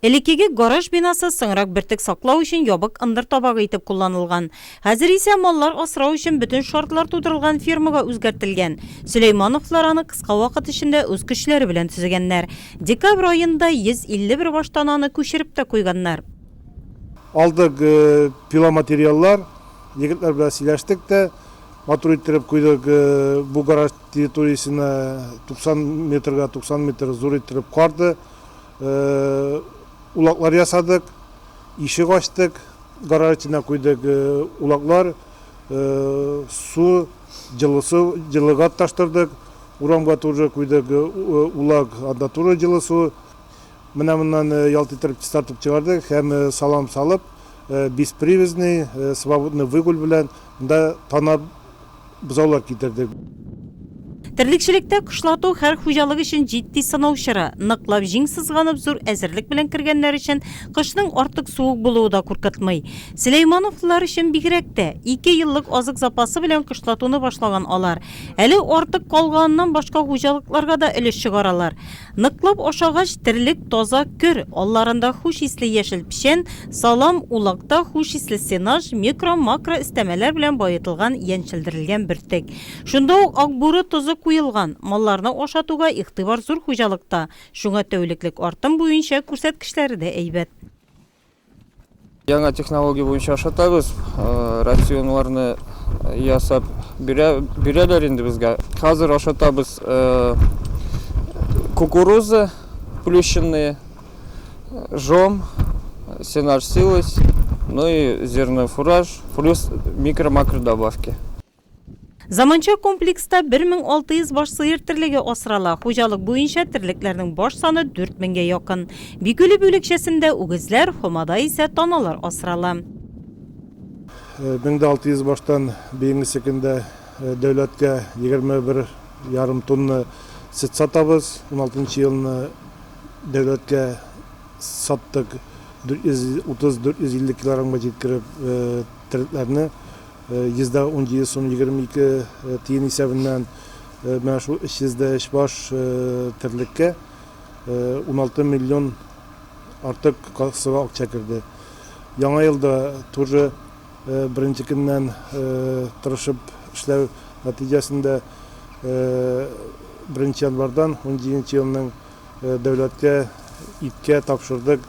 Элеккеге гараж бинасы соңрак бөртек саклау өчен ябык ындыр табагы итеп кулланылган. Хәзер исә маллар асрау өчен бөтен шартлар тудырылган фермага үзгәртелгән. Сөләймановлар аны кыска вакыт эчендә үз көчләре белән төзегәннәр. Декабрь аенда 151 баштананы күчереп тә куйганнар. Алдык пиломатериаллар, егетләр белән сөйләштек тә, матур иттереп куйдык. Бу гараж территориясенә 90 метрга 90 метр зур иттереп карды. Улаклар ясадык, ишек ачтык, гараж эченә куйдык улаклар, су, җылы су, җылы газ таштырдык, урамга тоже куйдык улак, анда тоже җылы су. Менә моннан ялт иттереп чистартып чыгардык һәм салам салып, беспривязный, свободный выгул белән монда танап бозаулар китердек. Терлекчелектә кышлату һәр хуҗалык өчен җитди сынау чоры. Ныклап җиң сызганып, зур әзерлек белән кергәннәр өчен кышның артык суык булуы да куркытмый. Сөләймановлылар өчен бигрәк тә. Ике еллык азык запасы белән кышлатуны башлаган алар. Әле артык калганыннан башка хуҗалыкларга да өлеш чыгаралар. Ныклап ашагач, терлек таза көр, алларында хуш исле яшел печән, салам, улакта хуш исле сенаж, микро, макро өстәмәләр белән баетылган яньчелдерелгән бөртек. Шунда ук акбүре тозы куелган. Малларны ашатуга игътибар зур хуҗалыкта, шуңа тәүлеклек артым буенча күрсәткечләре дә әйбәт. Яңа технология буенча ашатабыз. Рационларны ясап бирәләр инде безгә. Хәзер ашатабыз кукуруза, плющенные, жом, сенаж силос, ну и зерно фураж, плюс микро-макро добавки. Заманча комплекста 1600 баш сыер терлеге асрала, хуҗалык буенча терлекләрнең баш саны 4000-гә якын. Бикүле бүлекчәсендә үгезләр, Һомада исә таналар асрала. 1600 баштан быелгысы көндә дәүләткә 21 ярым тонна сөт сатабыз. 16 нчы елны дәүләткә саттык, 430-450 килограммга җиткереп, терлекләрне. 100 дә ун җиде сум 22 тиен исәбеннән менә шул 300 дә өч баш терлеккә 16 миллион артык кассага акча керде. Яңа елда тоже беренче көннән тырышып эшләү нәтиҗәсендә беренче январьдан унҗиденче елның дәүләткә иткә тапшырдык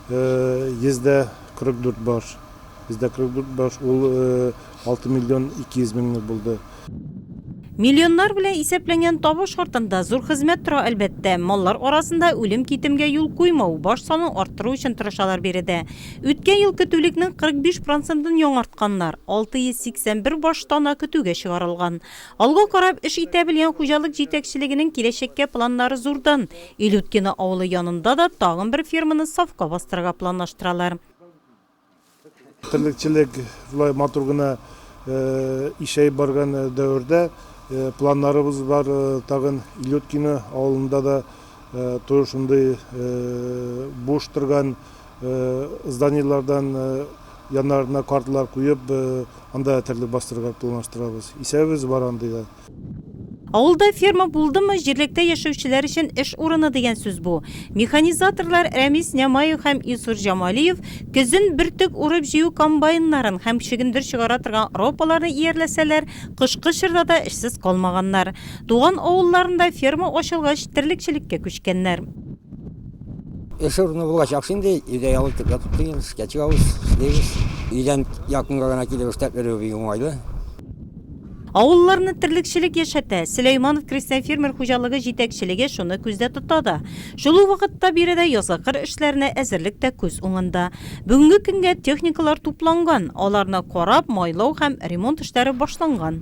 100 дә 44 баш. Бездә кырык баш ул алты миллион ике йөз меңлек булды. Миллионнар белән исәпләнгән табыш артында зур хезмәт тора, әлбәттә. Маллар арасында үлем-китемгә юл куймау, баш санын арттыру өчен тырышалар биредә. Үткән ел көтүлекнең 45 процентын яңартканнар, 681 баш тана көтүгә чыгарылган. Алга карап эш итә белгән хуҗалык җитәкчелегенең киләчәккә планнары зурдан. Илюткино авылы янында да тагын бер ферманы сафка бастырырга планлаштыралар. Терлекчелек болай матур гына ишәеп барган дәвердә планнарыбыз бар, тагын Илюткино авылында да тоже шундый буш торган зданиеләрдән яннарына картлар куеп, анда да терлек бастырырга планлаштырабыз. Исәбебез бар андый да. Авылда ферма булдымы, җирлектә яшәүчеләр өчен эш урыны дигән сүз бу. Механизаторлар Рәмис Нямаев һәм Илсур Җамалиев көзен бөртек урып-җыю комбайннарын һәм чөгендер чыгара торган ропаларны иярләсәләр, кышкы чорда да эшсез калмаганнар. Туган авылларында ферма ачылгач, терлекчелеккә күчкәннәр. Эш урыны булачак шул инде, өйдә ял итеп ятып туябыз, эшкә чыгабыз, эшлибез. Өйдән якынга гына килеп эшләп йөрү бик уңайлы. Авылларны терлекчелек яшәтә. Сөләйманов крестьян-фермер хуҗалыгы җитәкчелеге шуны күздә тота да. Шул ук вакытта биредә язгы кыр эшләренә әзерлек тә күз уңында. Бүгенге көнгә техникалар тупланган, аларны карап, майлау һәм ремонт эшләре башланган.